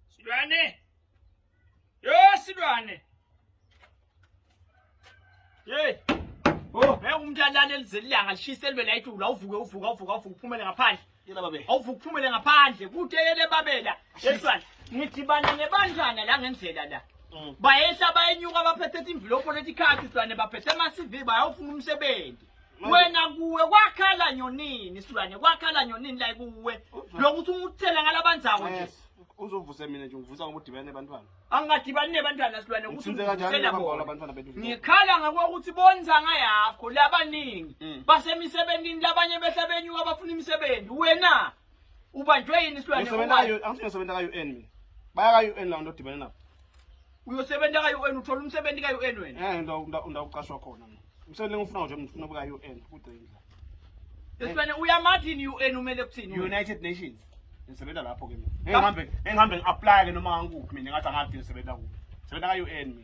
Silwane! Yo, silwane! Hey! Oh, ngeke umuntu alale elizeli ilanga lishise libe layithi ula uvuke uvuka uvuka uvuke uphumele ngaphandle. Yela babe. Awuvuke uphumele ngaphandle kude yele babela. Yesilwane. Ngidibana nebandlana la ngendlela la. Mm. Bayehla bayenyuka baphethe imvilopho lethi card silwane baphethe ama CV bayofuna umsebenzi. wena kuwe kwakhala nyonini silwane kwakhala nyonini la kuwe lokuthi unguthela ngalabanzawo nje uzovuse mina nje ngivusa ngoba udibane nebantwana angingadibani nebantwana silwane ngikhala ngakokuthi bonzanga yakho labaningi mm. basemisebentini labanye behla benyuka bafuna imisebenzi wena Ubanjwe yini isilwane Ngisebenza owayo? ka-UN, angithi ngisebenza ka-UN mina. Baya ka-UN lawo nto odibene nabo. Uyosebenza ka-UN uthola umsebenzi ka-UN wena. Eh, nda- nda- ndawuqashwa khona mina. Umsebenzi engiwufunayo nje mina ngifuna ubuka UN kugcina. Isilwane uyamathini UN umele kuthini? wena? United Nations. Ngisebenza lapho ke mina. Ngeke ngihambe ngeke ngihambe ngi-apply ke noma ngikuphi mina ngathi angathi ngisebenza kuphi. Ngisebenza ka-UN mina.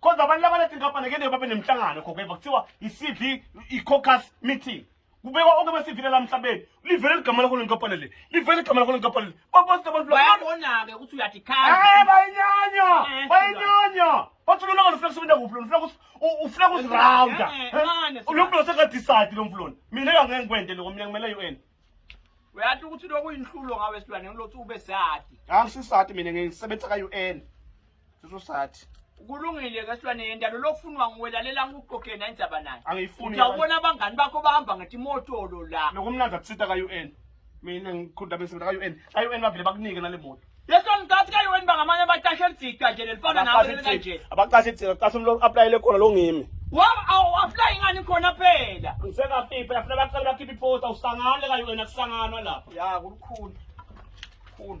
kodwa abantu labaletha inkampani kene babe nemhlangano khokho beva kuthiwa i-cv i-cocus meeting kubekwa onke besivile la mhlabeni livele ligama lakho lenkampani le livele igama lakho lenkampani le babonke abantu bayabona-ke ukuthi uyadikhala Eh, bayinyanya Eh, bayinyanya bathi lona ngani ufuna kusebenza kuphi lona ufuna kus- u- ufuna kuzirawunda Eh, eh, mane, lo mfula sekadisayidi lo mfulona mina kangeke ngikwente loko mina ngimele u-n uyati ukuthi lokhu uyinhlulo ngawe silwane ngilothi ube sati angisisati mina ngisebenzisa ka UN sisosati kulungile ke silwane yendalo lokufunwa nguwe lalela ngikuqoqe na indzaba nayo angiyifuni uyabona abangani bakho bahamba ngathi motolo la nokumnandi akusita ka UN mina ngikhunda bese ka UN ka UN bavile bakunike nale moto Leso ngikathi kayo wena bangamanye abatasha elidida nje lelifana nawe kanje. Abaqashe ithina, qashe umuntu applyele khona lo ngimi. Waba awu apply ngani khona phela. Ngiseka pipa yafuna baqale bakhiphe iphota usangane kayo wena kusanganwa lapha. Ya kukhulu. Kukhulu.